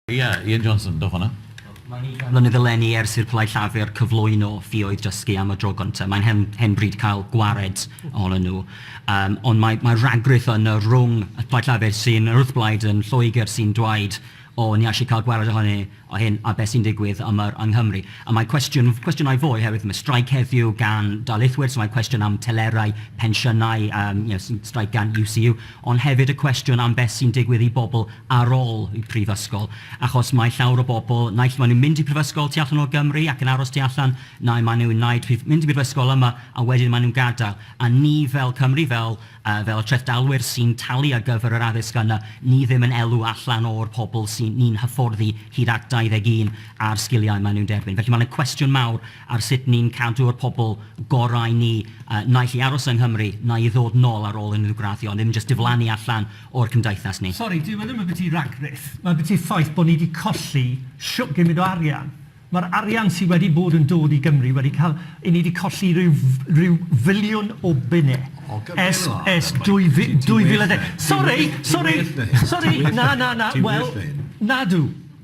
Ia, Ian Johnson, dewch fan'na. Mae'n ugain mlynedd eleni ers i'r Plaid Llafur cyflwyno ffioedd dysgu am y dro gyntaf. Mae'n hen, hen bryd cael gwared ohonyn nhw. Um, ond mae, mae rhagruth yn y rhwng y Plaid Llafur sy'n yr wrthblaid yn Lloegr sy'n dweud o, ni eisiau cael gwared ohoni o hyn a beth sy'n digwydd am yr yng Nghymru. A mae cwestiwn, cwestiynau fwy, herwydd mae straic heddiw gan daleithwyr, so mae cwestiwn am telerau, pensiynau, um, you know, straic gan UCU. Ond hefyd y cwestiwn am beth sy'n digwydd i bobl ar ôl y prifysgol, achos mae llawr o bobl, naill maen nhw'n mynd i prifysgol tu allan o Gymru ac yn aros tu allan, neu maen nhw'n wneud prif-, mynd i brifysgol yma a wedyn maen nhw'n gadael. A ni fel Cymru, fel yy fel y trethdalwyr sy'n talu ar gyfer yr addysg yna, ni ddim yn elw allan o'r pobl sy'n ni'n hyfforddi hyd at 21 a'r sgiliau maen nhw'n derbyn. Felly mae yna cwestiwn mawr ar sut ni'n cadw'r pobl gorau ni naill i aros yng Nghymru neu i ddod nôl ar ôl unrhyw graddio, ddim jyst diflannu allan o'r cymdeithas ni. Sori, dyw e ddim ambyti ragrith, mae ambyti ffaith bod ni wedi colli shwt gymryd o arian. Mae'r arian sydd wedi bod yn dod i Gymru wedi cael... 'yn ni wedi colli rhyw rhyw filiwn o bunne ers ers 2010. Sori, sori, sori, na, na, na, wel, nadw.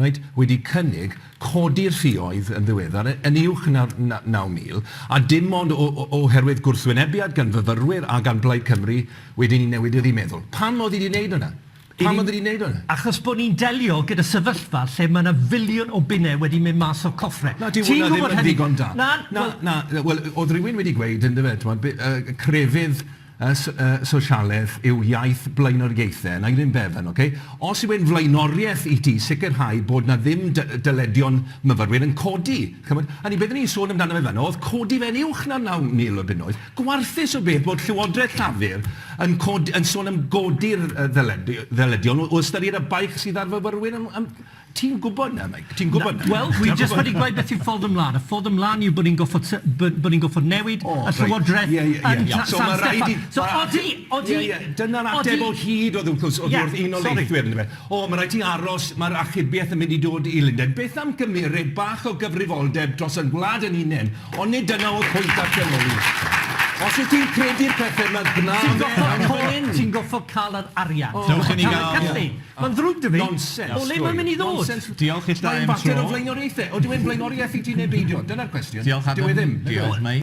Rhaid wedi cynnig codi'r ffioedd yn ddiweddar yn uwch na'r 9,000, a dim ond oherwydd gwrthwynebiad gan fyfyrwyr a gan Blaid Cymru wedyn i newid iddi meddwl. Pam oedd hi 'di wneud hwnna? Pam oedd hi 'di wneud hwnna? Achos bod ni'n delio gyda sefyllfa lle mae 'na filiwn o bunnau wedi mynd mas o'r coffre. Na, dyw hwnna ddim yn ddigon da. Na, na, na, wel, oedd rhywun wedi gweud, yndyfe, timod, crefydd, y sosialedd yw iaith blaenoriaethau, na yr un beth yn ok. Os yw e'n flaenoriaeth i ti sicrhau bod na ddim dyledion myfyrwyr yn codi, ch'mod, hynny beth o'n i'n sôn amdano fe fan'na oedd codi fe'n uwch na naw mil o bunnoedd, gwarthus o beth bod Llywodraeth Llafur yn codi- yn sôn am godi'r ddyledu- ddyledion o o ystyried y baich sydd ar fyfyrwyr am am Ti'n gwybod 'na, Mike, ti'n gwybod 'na... Wel, dwi jyst wedi gweud beth yw ffordd ymlaen. Y ffordd ymlaen yw bod ni'n gorfod t- bod bod ni'n gorfod newid y Llywodraeth yn San Steffan. So odi, odi... Ie, ie, dyna'r ateb o hyd oedd wrth gwrs, oddi wrth Unol Daleithwyr yndyfe. O, ma' raid ti aros, ma'r achubiaeth yn mynd i dod i Lundain. Beth am gymeryd bach o gyfrifoldeb dros ein gwlad ein hunain? Ond nid dyna oedd pwynt darllen o hyd. Os wyt ti'n credu'r pethe 'ma, gwna fe... Ti'n gorfod ca'l yr arian. Dewch i ni ga'l... Mae'n ddrwg 'da fi. Nonsens. O le mae'n mynd i ddod? Nonsens. Diolch ill da i'm tro. Mae'n fater o flaenoriaethau. Odyw e'n flaenoriaeth i ti neu beidio? Dyna'r cwestiwn. Diolch Adam. Dyw e ddim. Diolch. Mae.